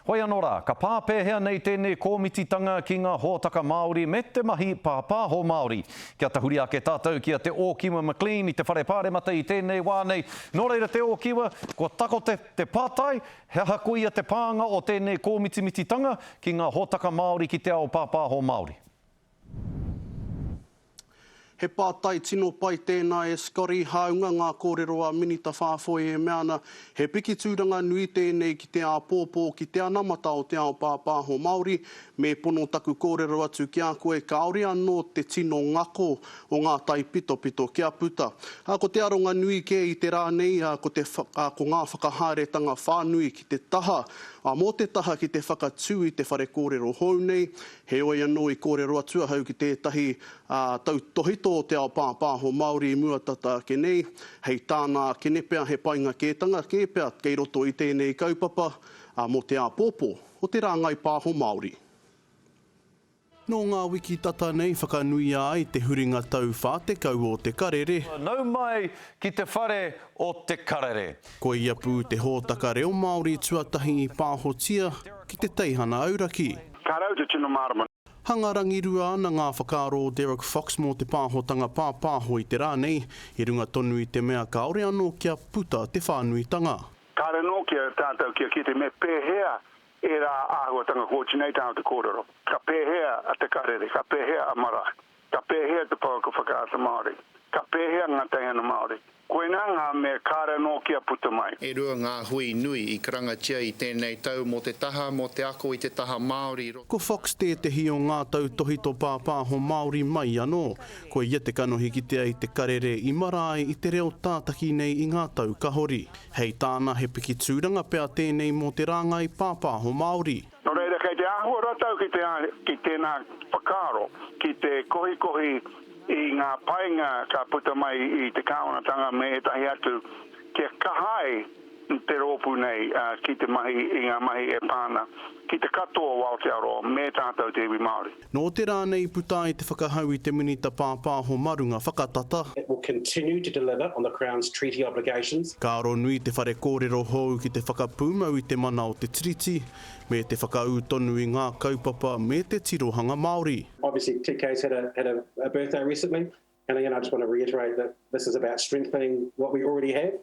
Hoi anō rā, ka pā pēhea nei tēnei kōmititanga ki ngā hōtaka Māori me te mahi pāpāho Māori? Kia tahuri ake tātou ki a Te Ōkiwa McLean i te Whare Pāremata i tēnei wā nei. Nō reira Te Ōkiwa, kua tako te te pātai, he aha koia te pānga o tēnei kōmitimititanga ki ngā hōtaka Māori ki te ao pāpāho Māori? He pātai tino pai tēnā e Scotty, hāunga ngā kōrero a Minita Whāfoe e mea ana, he piki tūranga nui tēnei ki te āpōpō, ki te anamata o te ao pāpāho Māori, me pono taku kōrero atu ki a koe, kāore anō te tino ngako o ngā taipitopito kia puta. Ā, ko te aronga nui kē i te rā nei, ā, ko te, ā, ko ngā whakahaeretanga whānui ki te taha, ā, mō te taha ki te whakatū i te whare kōrero hou nei, Heoi anō i kōrero atu ahau ki tētahi tautokito o te ao pāpāho Māori i mua tata ake nei, hei tāna ake ne pea he painga kētanga kē pea kei roto i tēnei kaupapa mō te āpōpō o te rāngai pāho Māori. Nō ngā wiki tata nei whakanuia ai te huringa tau 40 o Te Karere. Nau mai ki te whare o Te Karere. Koia pū te hōtaka reo Māori tuatahi i pāhotia ki te teihana auraki. Ka rau te tino mārama. Hanga rangirua ana ngā whakaaro o Derek Fox mō te pāhotanga pāpāho i te rā nei, i runga tonu i te mea kāore anō kia puta te whānuitanga. Kāore anō ki a tātou kia kite me pēhea ērā āhuatanga kōti nei tāna te kōrero, ka pēhea a Te Karere, ka pēhea a Marae. Ka pēhea te pouaka whakaata Māori? Ka pēhea ngā teihana Māori? Koinā ngā mea kāre anō kia puta mai. E rua ngā hui nui i karangatia i tēnei tau mō te taha, mō te ako i te taha Māori i roto. Ko Fox tētehi o ngā tautōhito pāpāho Māori mai anō. Ko ia te kanohi kitea i te karere i marae i te reo tātaki nei i ngā tau kahori. Hei tāna he piki tūranga pea tēnei mō te rāngai pāpāho Māori. Nō reira, kei te āhua rātou ki te ki tēnā whakaaro, ki te kohikohi i ngā painga ka puta mai i te kāwanatanga me ētahi atu kia kaha ai te rōpū nei ki te mahi i ngā mahi e pā ana ki te katoa o Aotearoa me tātou te iwi Māori. Nō te rā nei i puta ai te whakahau i te Minita Pāpāho mā runga whakatata. It will continue to deliver on the Crown's treaty obligations. Ka aro nui te whare kōrero hou ki te whakapūmau i te mana o te Tiriti, me te whakaū tonu i ngā kaupapa me te tirohanga Māori. Obviously TK's had a had a birthday recently and again I just want to reiterate that this is about strengthening what we already have.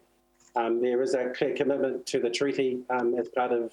There is a clear commitment to the treaty as part of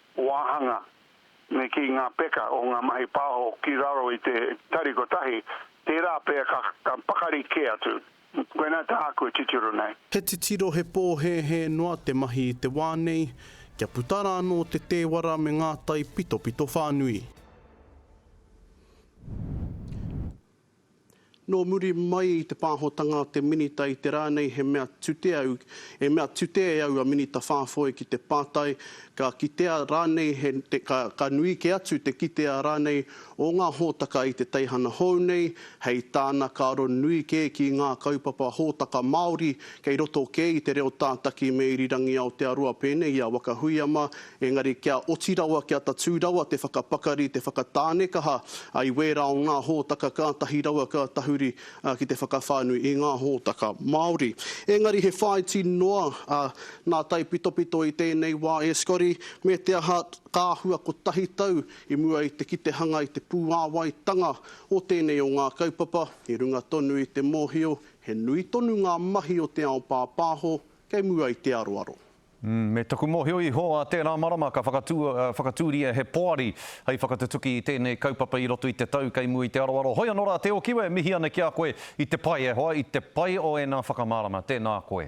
wāhanga me kī ngā peka o ngā mahi pāho ki raro i te tari kotahi, tērā pea ka pakari kē atu. Koinā tāku e titiro nei. He titiro he pōhēhē noa te mahi i te wā nei, kia puta rā anō te tēwara me ngā taipitopito whānui. Nō muri mai i te pāhotanga a te Minita i te rā nei he mea tute au, he mea tute e au a Minita Fafoe ki te pātai, ka kitea rānei he, ka, ka nui kē atu te kitea rānei o ngā hōtaka i te teihana hou nei, hei tāna ka aro nui kē ki ngā kaupapa hōtaka Māori kei roto kē i te reo tātaki me irirangi Aotearoa pēnei i a Waka Huiama Engari kia oti rawa, kia tatū rawa te whakapakari, te whakatānekaha i wērā o ngā hōtaka kātahi rawa ka tahuri ki te whakawhānui i ngā hōtaka Māori. Engari he whāiti noa a Nā Taipitopito i tēnei wā e Scotty, me te aha ka āhua kotahi tau i mua i te kite hanga i te pūāwaitanga o tēnei o ngā kaupapa, i runga tonu i te mōhio he nui tonu ngā mahi o te ao pāpāho kei mua i te aroaro. Me taku mōhio iho, ā tērā marama ka whakatūria he poari hei whakatutuki i tēnei kaupapa i roto i te tau kei mua i te aroaro. Hoi anō rā, Te Ōkiwe, mihi ana ki a koe i te pai e hoa, i te pai o ēnā whakamārama. Tēnā koe.